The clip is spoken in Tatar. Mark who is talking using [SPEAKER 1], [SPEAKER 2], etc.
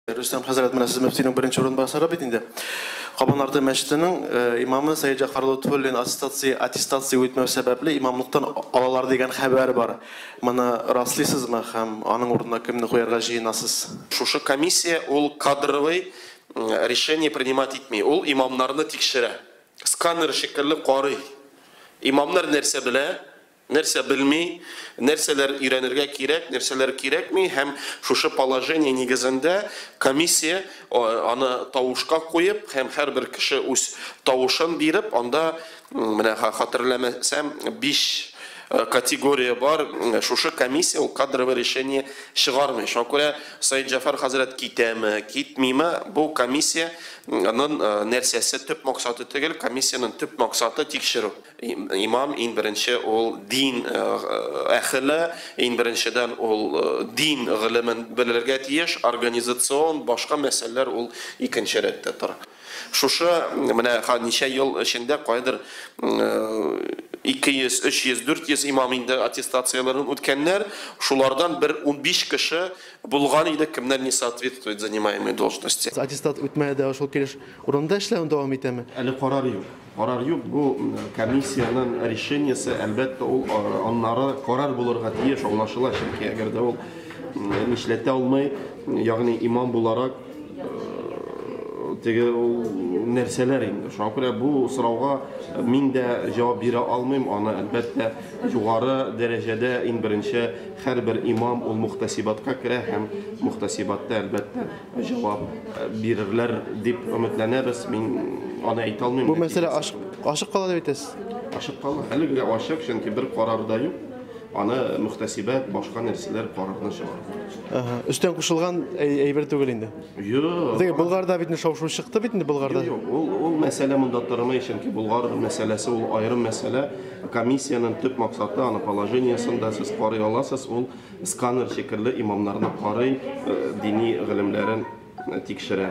[SPEAKER 1] Рөстәм хәзрәт, менә сез мөфтинең беренче урынбасары бит инде. Кабанарты мәчетенең имамы Сәет Җәгъфар Лотфуллин аттестация аттестация үтмәү сәбәпле имамлыктан алалар дигән хәбәр бар. Моны раслыйсызмы һәм аның урынына кемне куярга җыенасыз? Шушы комиссия
[SPEAKER 2] ул кадровый решение принимать итми, ул имамнарны тикшерә. Сканер шикелле карый. Имамнар нәрсә белә, Нәрсә белми, нәрсәләр өйрәнергә кирәк, нәрсәләр кирәкми һәм шушы положение нигезендә комиссия аны тавышка куеп һәм һәрбер кеше үз тавышын биреп, анда, менә хатерләмәсәм, биш категория бар, шушы комиссия ул кадровое решение чыгармый. Шуңа күрә Саидҗафар хәзрәт китәме, китмиме, бу комиссия нын нәрсәсе, төп максаты төгел, комиссия нын төп максаты тикшерү. Имам, иң беренче, ул дин әхеле, иң беренчедән, ул дин гыйлемен белергә тиеш, организацион, башка мәсьәләләр ул икенче рәттә тора. Шушы менә ничә ел эчендә кайдыр 200, 300, 400 имам инде аттестацияләрен үткәннәр, шулардан бер унбиш кеше булган иде, кемнәр не соответствует занимаемой должности. Аттестат үтмәде дә
[SPEAKER 1] ул шул килеш урында эшләвен дәвам итәме? Әле карар юк.
[SPEAKER 2] Карар юк, бу комиссиянең решениесе, әлбәттә, ул аннары карар булырга тиеш, аңлашыла, чөнки әгәр дә ул нишләтә алмый, ягъни имам буларак, теге ул нәрсәләр инде. Шуңа күрә бу сорауга мин дә җавап бирә алмыйм, аны, әлбәттә, югары дәрәҗәдә иң беренче һәрбер имам ул мухтәсибатка керә һәм мухтәсибатта, әлбәттә, җавап бирерләр дип өметләнәбез. Мин аны әйтә алмыйм. Бу мәсьәлә ачык,
[SPEAKER 1] ачык кала дип әйтәсез? Ачык кала. Әле
[SPEAKER 2] генә ачык, чөнки бер карар да юк. Аны мөхтәсибәт, башка нәрсәләр карарны чыгарыр. Ага. Өстән кушылган
[SPEAKER 1] әйбер түгел инде. Юк. Диге
[SPEAKER 2] Болгарда бит
[SPEAKER 1] шау-шу чыкты бит инде Болгарда. Юк, ул ул мәсьәлә
[SPEAKER 2] монда тормый, чөнки Болгар мәсьәләсе ул аерым мәсьәлә. Комиссиянең төп максаты аны положениесен дә сез карый аласыз, ул Сканер шикелле имамнарны карый, дини гылемнәрен тикшерә.